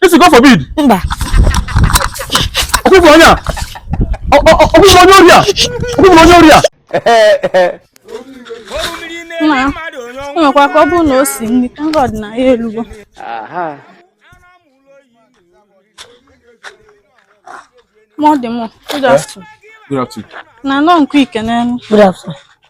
ị sị God forbid mba ọkụkọ onye a ọkụkọ onye ori a ọkụkọ onye ori a mekwa ka ọ bụrụ na o si nri ka nrọ dị na ya elugo mọ dị mọ good afternoon na nọ nkụ ike n'elu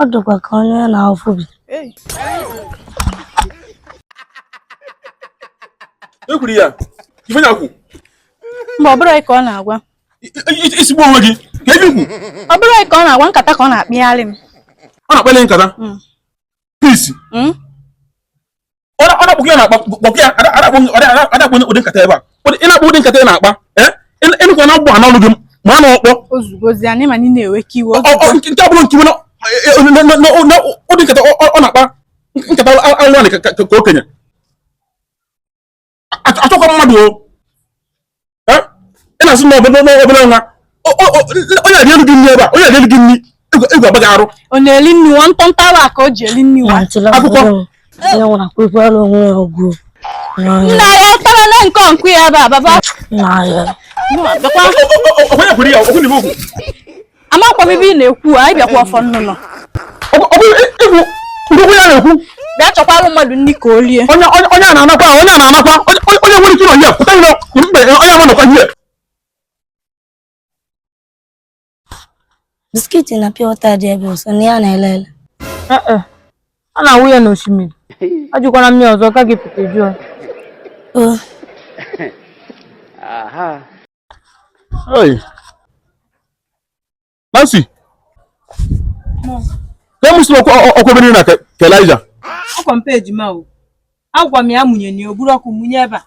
ọ dịkwa ka onye na-afụ bi ekwuru ya ife nya kwu mba ọ bụrụ ka ọ na-agwa isigbu onwe gị ka ebi kwu ọ bụrụ ka ọ na-agwa nkata ka ọ na-akpalị m ọ na-akpali nkata peace hmm? hmm? ọ na-akpọ gị na-akpa kpọkị ya a da akpa ụdị nkata ebe a ị na-akpa ụdị nkata ị na-akpa eh? ị nụkwa na mgbụ a n'ọnụ gị ma a na-ọkpọ nke abụrụ nke iwe ụdị nkata ọ na-akpa nkata alụanị ka okenye achọkwa mmadụ o ị na-asị na obere nwa onye adị elu gị nri ebe a onye adị elu gị nri egwu abaa gị arụ ọ na-eli nri nwa ntọntọ awa ka o ji eli nri nwa akwụkwọ nna ya tara na nke ọnkụ ya ebe a baba onye kwuru ya okwu n'ime okwu amakwa m ife ị na-ekwu anyị bịakwa ọfọ nnụnụ ndokwu ya na-ekwu bịa chọkwara mmadụ nri ka o lie onye onye onye a na-anakwa ahụ, onye a na-anakwa onye onye- onye nwere ike ịnọ ihe pụta ilo mgbe onye ahụ nọkwa ihe biscuit na pure water dị ebe ọsọ na ya na-ele ele ee a na-awụ ya n'osimiri ajụkwana m ya ọzọ ka gị pụta jụọ o Hey. Nancy. Ka m si ọkụ ebe na ka Elijah. Akwa mpe ejima o. Agwa m ya mụnye na o buru ọkụ mụnye ebe a.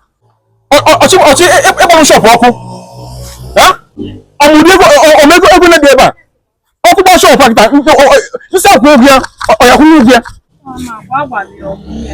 Ọ chọ ọ chọ ịgbanụ e, e, shop ọkụ. Ọ ma ụdị ego ọ ma ego ego na-ebi ebe a. Ọkụ gba shop a kịta m sị ya kwụọ ụgwọ ya ọ ya-akwụnye ụgwọ ya. Agwa m ya ọ mụnye.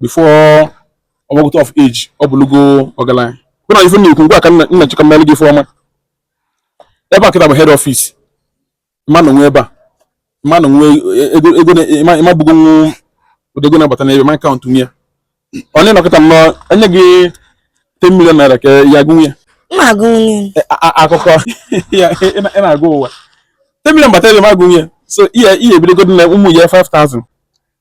before ọ gbagota of age ọ bụlụgo ọgaranya bụ na ife na-ekwu ngwa ka nna chika mmelụ gị ife ọma ebe a kịta bụ head office mmanụ nwe ebe a mmanụ nwe ego ego ị ma bụgo nwu ụdị ego na-abata n'ebe ma account nwe ya onye nọkịta nnọọ e nye gị 10 million naira ka ya gụnwe ya akụkọ ị na-akọ ụwa 10 million bata ebe ma gụnwe ya so ihe ihe ebidogo na ụmụ ya 5000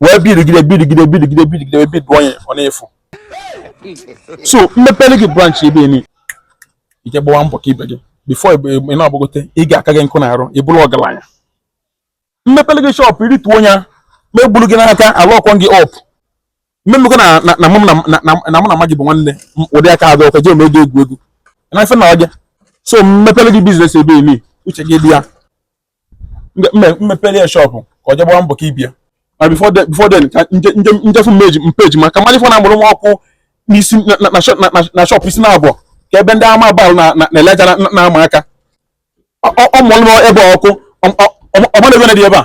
wee bidigide bidigide bidigide bidigide wee biduo onye ọ na-efu so m mepere gị branch ebe eni i je gbawa mbọ ka ibe gị before ị na-agbagote ị ga-aka gị nkụ na-arụ ị bụrụ ọgaranya m mepere gị shọpụ i rituo ya m egburu gị n'aka a lọkụọ gị up mmemekọ na mụ na mụ na ma gị bụ nwanne ụdị aka adọ ọkwa jee ma ego egwu egwu na ife na ọja so m mepere gị biznes ebe eni uche gị dị ya m mepere ya shọpụ ka o je gbawa mbọ ka ibe ya na before then before then ka m je m je m je fụ mmeji mpeji maka mmadụ ife na-amụrụ m ọkụ n'isi na- na- na shop- na- na- na shop isi na abụọ ka ebe ndị amụma Baal na na- na Elijah na- na- na-ama aka Ọ- ọ- ọ mụrụ m ebe ọkụ ọ- ọ- ọ- ọ mara ebe na dị ebe a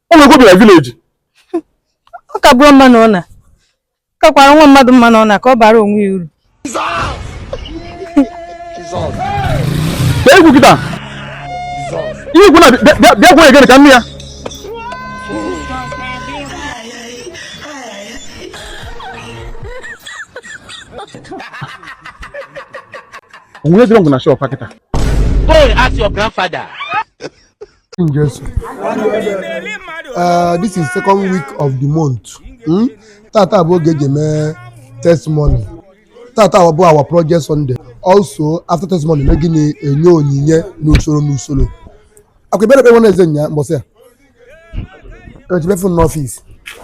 o nwere obi na vileji ọ ka bụrụ mma na ọ na kakwara nwa mmadụ mma na ọ na ka ọ bara onwe ya uru bịa egwu kịta ihe ikwu na bịa gwa egere ka nne ya o nwedị ọgwụ na shọp kịta Go and ask your grandfather. Uh, this is second week of the month hmm? tata bụ oge e ji eme testimony tata bụ our project Sunday also after testimony na gịnị enye onyinye n'usoro n'usoro akwa ebere ekpe eze nya mbọsị a echebe fon n'ọfịs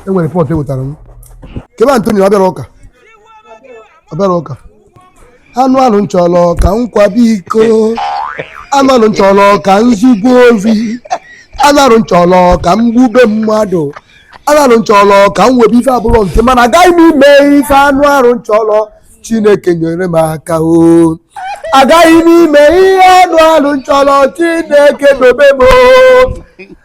e nwere report e wetara m kee ebe Antonio ọ bịara ụka ọ bịara ụka anụ arụ m chọrọ ka m kwabe iko anụ arụ m chọrọ ka m zube ohi anụ arụ m chọrọ ka m gbube mmadụ anụ arụ m chọrọ ka m webe ife abụrọ nke m mana agaghị m eme ife anụ arụ m chọrọ chineke nyere m aka o agaghị m eme ihe anụ arụ m chọrọ chineke dobe m o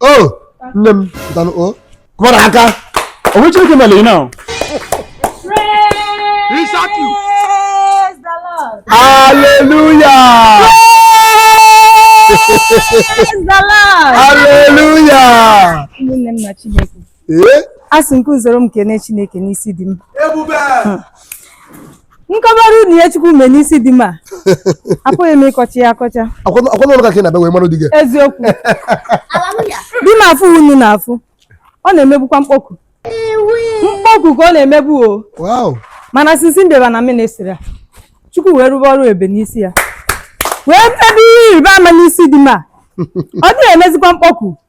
o nne m pụtanụ o kụbara aka o nwe ihe Chineke mere na Hallelujah! Hallelujah! Nne nna Chineke. ee a sị ka unu soro m kene chineke n'isi di m ebube Hmm. m kọbara unu ihe chukwu mee n'isi di m a apụghị m ịkọcha ya akọcha ọ kwa n'ọrụ ka ka ị na-abịa wee mara di gị eziokwu di m afụ unu na-afụ ọ na-emebukwa mkpọku mkpọku ka ọ na-emebu o wow mana sinsi m bịaba na ministri a chukwu wee rụba ọrụ ebe n'isi ya wee mebe ihe ịrịba ama n'isi di m a ọ dịghị emezikwa mkpọku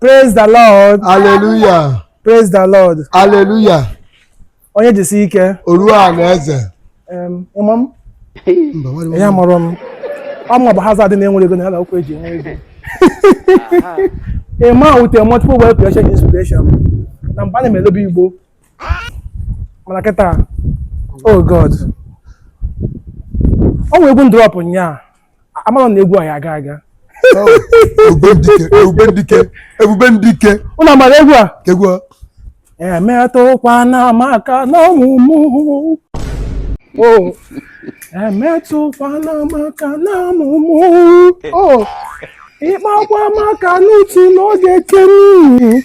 Praise the Lord. Hallelujah. Praise the Lord. Hallelujah. Onye jisi ike. Oru a na eze. Um, ịma m? Ihe amụrụ m. Ọ mụ bụ hazard na-enwere ego na ala okwu eji enwe ego. A man with a multiple wealth creation inspiration. Na mba na-eme elobe Igbo. Mana kịta, oh God. Ọ nwere egwu m drop nyaa. amara na egwu a ya-aga aga Oh, ebube ndike ebube ndike ebube ndike ụnụ amara egwu a egwu a. emetụkwana m aka n'ọmụmụ o emetụkwana m aka n'ọmụmụ o ịkpakwa m aka n'utu n'oge kenu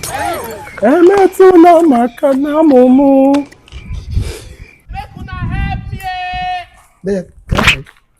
emetụla m aka n'ọmụmụ Make una help me. There.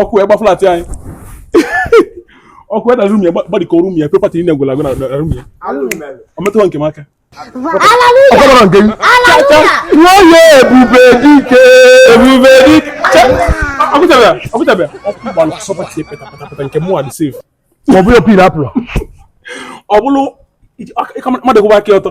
ọkụ wee gba flat anyị ọkụ wee na room ya gbadikọ room ya property niile gwara agwa na room ya ọ metụwa nke m aka ọkọbara nke m nwoye ebube dike ebube dike ọkụtabịa ọkụtabịa ọkụ gbara sọpati petapatapeta nke mụ adị safe ọ bụrụ pin apụrọ ọ bụrụ mmadụ kwụba aka ọtọ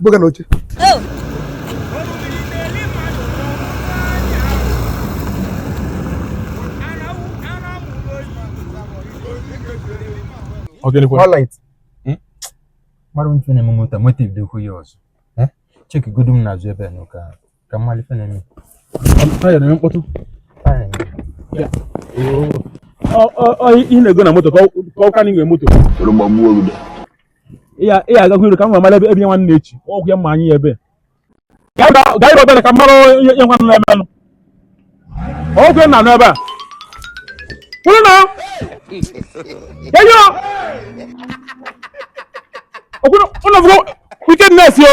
buga na oche hmm? mara ife na-eme moto motiv dị okwu ya ọzọ eh? cheki godu m n'azụ ebe a n'ụka ka m mara ife na-eme taya na-eme mkpọtụ taya ị na-ego na moto ka ọ ka na inwe moto ị ga-agakwa iru ka m mara ebe ebe nwanne echi ọgwụ ya mma anyị ya ebe gaa ịrọta na ka mara ihe nwanne na-emenụ ọgwụ na anụ ebe a kwuru na enyo ọkwụrụ ụlọ wickedness yo